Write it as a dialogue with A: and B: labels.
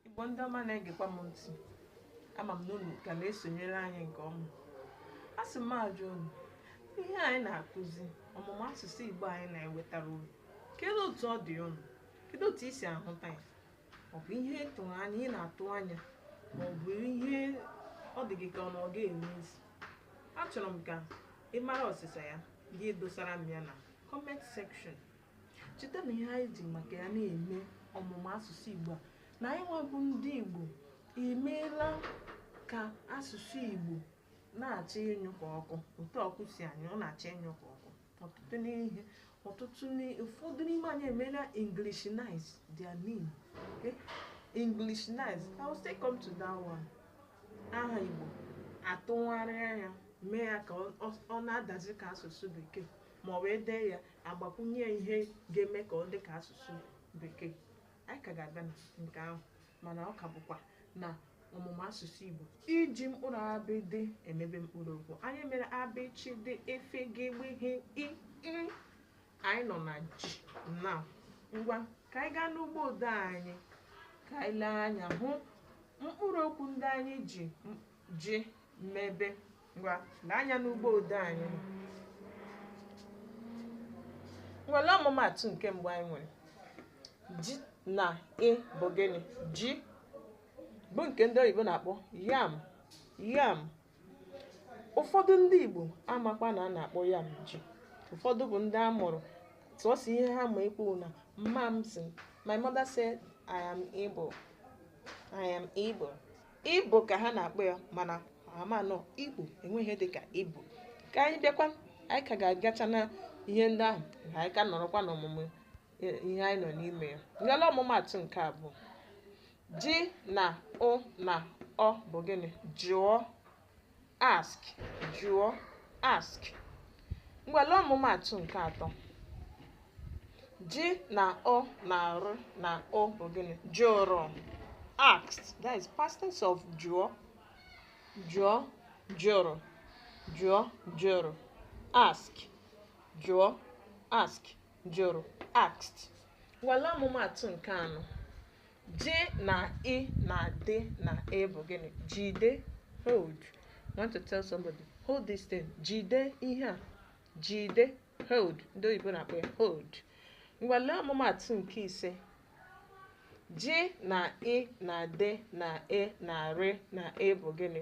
A: Igbo ndị ọma na-egekwa m ntị ama m na unu ka na-esonyere anyị nke ọma a sị m ajụọ unu ihe anyị na-akụzi ọmụmụ asụsụ Igbo anyị na-ewetara unu kedu otu ọ dị unu kedu otu i si ahụta ya ọ bụ ihe ị tụrụ anya ị na-atụ anya ma ọ bụ ihe ọ dị gị ka ọ na ọ ga-enwe isi achọrọ m ka ị mara ọsịsa ya gị dosara m ya na comment section cheta na ihe anyị ji maka ya na-eme ọmụmụ asụsụ Igbo a na anyịnwa bụ ndị Igbo emeela ka asụsụ Igbo na-achọ ịnyụ ka ọkụ otu ọkụ si anyụ ọ na-achọ ịnyụ ka ọkụ ọtụtụ n'ihe ọtụtụ ụfọdụ n'ime anyị emeela Englishnize their name okay? Englishnize I will still come to that one aha Igbo atụgharịa ya mee ya ka ọ na-adazi ka asụsụ bekee ma ọ bụ e dee ya agbakwunye ya ihe ga-eme ka ọ dị ka asụsụ bekee anyị ka ga-abịa na nke ahụ mana ọ ka bụkwa na ọmụmụ asụsụ igbo iji mkpụrụ abịịdịị emebe mkpụrụ okwu anyị mere a bị chị dị e fị gị gbị hị i ị. anyị nọ na ji na ngwa ka anyị gaa n'ugbo odee anyị ka anyị lee anya hụ mkpụrụ okwu ndị anyị ji m- ji mebe ngwa lee anya n'ugbo odee anyị ngwa lee ọmụmatụ nke mbụ anyị nwere ji na i bụ gịnị ji bụ nke ndị oyibo na-akpọ yam yam ụfọdụ ndị igbo amakwa na a na-akpọ yam ji ụfọdụ bụ ndị a mụrụ sọọsọ ihe ha ma ekwu na mma m sị my mother said i am ibo i am ibo Ibo ka ha na-akpọ ya mana amanụ Igbo enweghị ihe dịka Ibo ka anyị bịakwa anyị ka ga-agacha na ihe ndị ahụ ka anyị ka nọrọkwa n'ọmụmụ e, ihe anyị nọ n'ime ya ngwa lee ọmụmatụ nke abụọ ji na ụ na ọ bụ gịnị jụọ ask jụọ ask ngwa lee ọmụmatụ nke atọ ji na ụ na rị na ụ bụ gịnị jụrụ asked that is past tense of jụọ jụọ jụrụ jụọ jụrụ ask jụọ ask jụrụ asked ngwa lee ọmụmatụ nke anọ ji na i na dị na e bụ gịnị jide hold you want to tell somebody hold this thing jide ihe a jide hold ndị oyibo na-akpọ ya hold ngwa lee ọmụmatụ nke ise ji na i na dị na e na rị na e bụ gịnị